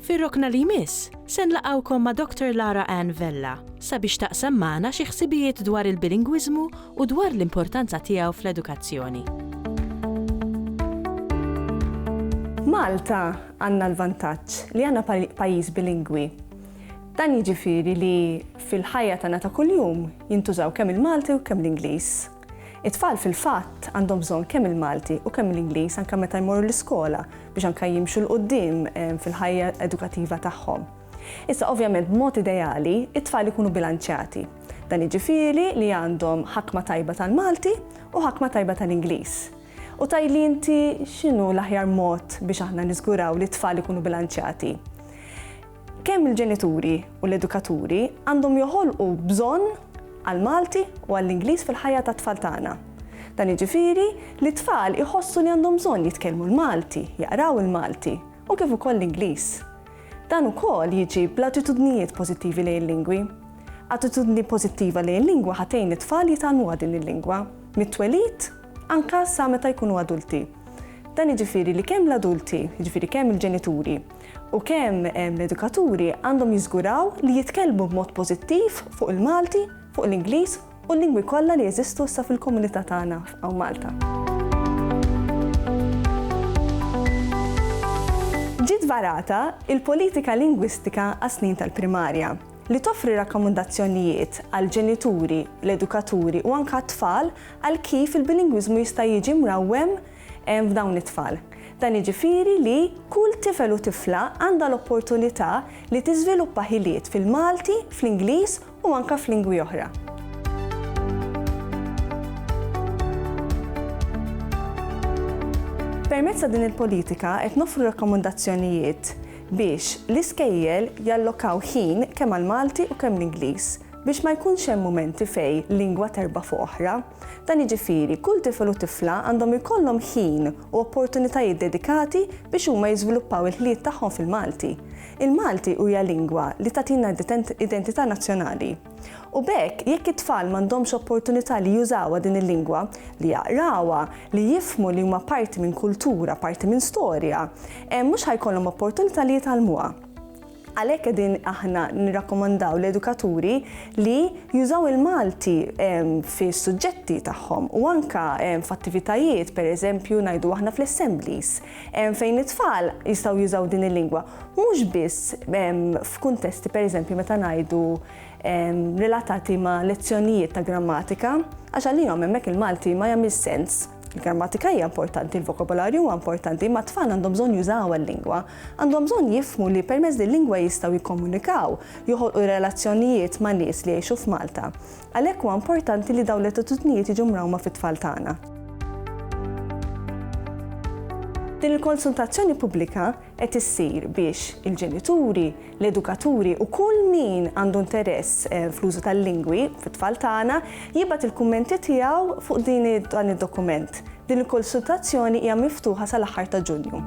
Fir-rokna li jmiss, se nlaqgħukom ma' Doctor Lara Anne Vella sabiex taqsam magħna xi ħsibijiet dwar il-bilingwiżmu u dwar l-importanza tiegħu fl-edukazzjoni. F'Malta għandna l-vantaġġ li għandna pajjiż bilingwi. Dan jiġifieri li fil-ħajja tagħna ta' kuljum jintużaw kemm il-Malti u kemm l-Ingliż. It-tfal fil-fatt għandhom bżonn kemm il-Malti u kemm l-Ingliż anke meta jmorru l-iskola biex anke jimxu 'l quddiem fil-ħajja edukattiva tagħhom. Issa ovvjament b'mod ideali t-tfal ikunu bilanċjati. Dan jiġifieri li għandhom ħakma tajba tal-Malti u ħakma tajba tal-Ingliż. U tgħidli inti x'inhu l-aħjar mod biex aħna niżguraw li t-tfal ikunu bilanċjati? Kemm il-ġenituri u l-edukaturi għandhom joħolqu bżonn għall-Malti u għall-Ingliż fil-ħajja tat-tfal tagħna. Dan jiġifieri li t-tfal iħossu li għandhom bżonn jitkellmu l-Malti, jaqraw il-Malti u kif ukoll l-Ingliż. Dan ukoll jiġi bl-attitudnijiet pożittivi lejn il-lingwi. Attitudni pożittiva lejn il-lingwa ħa tgħin lit-tfal jitgħallmuha din il-lingwa, mit-twelid anke sa meta jkunu adulti. Dan jiġifieri li kemm l-adulti, jiġifieri kemm il-ġenituri u kemm l-edukaturi għandhom jiżguraw li jitkellmu b'mod pożittiv fuq il-Malti, fuq l-Ingliż u l-lingwi kollha li jeżistu issa fil-komunità tagħna hawn Malta. Ġiet varata il-Politika Lingwistika għas-Snin tal-Primarja, li toffri rakkomandazzjonijiet għall-ġenituri, l-edukaturi u anke għat-tfal għal kif il-bilingwiżmu jista' jiġi mrawwem hemm f'dawn it-tfal. Dan jiġifieri li kull tifel u tifla għandha l-opportunità li tiżviluppa ħiliet fil-Malti, fl-Ingliż u anke f'lingwi oħra. Permezz ta' din il-politika qed noffru rakkomandazzjonijiet biex l-iskejjel jallokaw ħin kemm għall-Malti u kemm l-Ingliż Biex ma jkunx hemm mumenti fejn lingwa terba' fuq oħra. Dan jiġifieri, kull tifel u tifla għandhom ikollhom ħin u opportunitajiet dedikati biex huma jiżviluppaw il-ħliet tagħhom fil-Malti. Il-Malti huja lingwa li tagħtina identità nazzjonali. U b'hekk, jekk it-tfal m'għandhomx opportunità li jużawha din il-lingwa, li jaqrawha, li jifhmu li huma parti minn kultura, parti minn storja, mhux ħa jkollhom opportunità li jitgħallmuha. Għalhekk qegħdin aħna nirrakkomandaw l-edukaturi li jużaw il-Malti fis-suġġetti tagħhom u anke f'attivitajiet, pereżempju ngħidu aħna fl-assemblies, fejn it-tfal jistgħu jużaw din il-lingwa, mhux biss f'kuntesti pereżempju meta ngħidu relatati ma' lezzjonijiet ta' grammatika, għax għalihom hemmhekk il-Malti ma jagħmilx sens. Il-grammatika hija importanti, il-vokabolarju huwa importanti, imma t-tfal għandhom bżonn jużaw il-lingwa. Għandhom bżonn jifhmu li permezz din lingwa jistgħu jikkomunikaw, joħolqu relazzjonijiet ma' nies li jgħixu f'Malta. Għalhekk huwa importanti li dawn l-attitudnijiet jiġu mrawma fit-tfal tagħna. Din il-konsultazzjoni pubblika qed issir biex il-ġenituri, l-edukaturi u kull min għandu interess fl-użu tal-lingwi fit-tfal tagħna jibgħat il-kummenti tiegħu fuq din dan id-dokument. Din il-konsultazzjoni hija miftuħa sal-aħħar ta' Ġunju.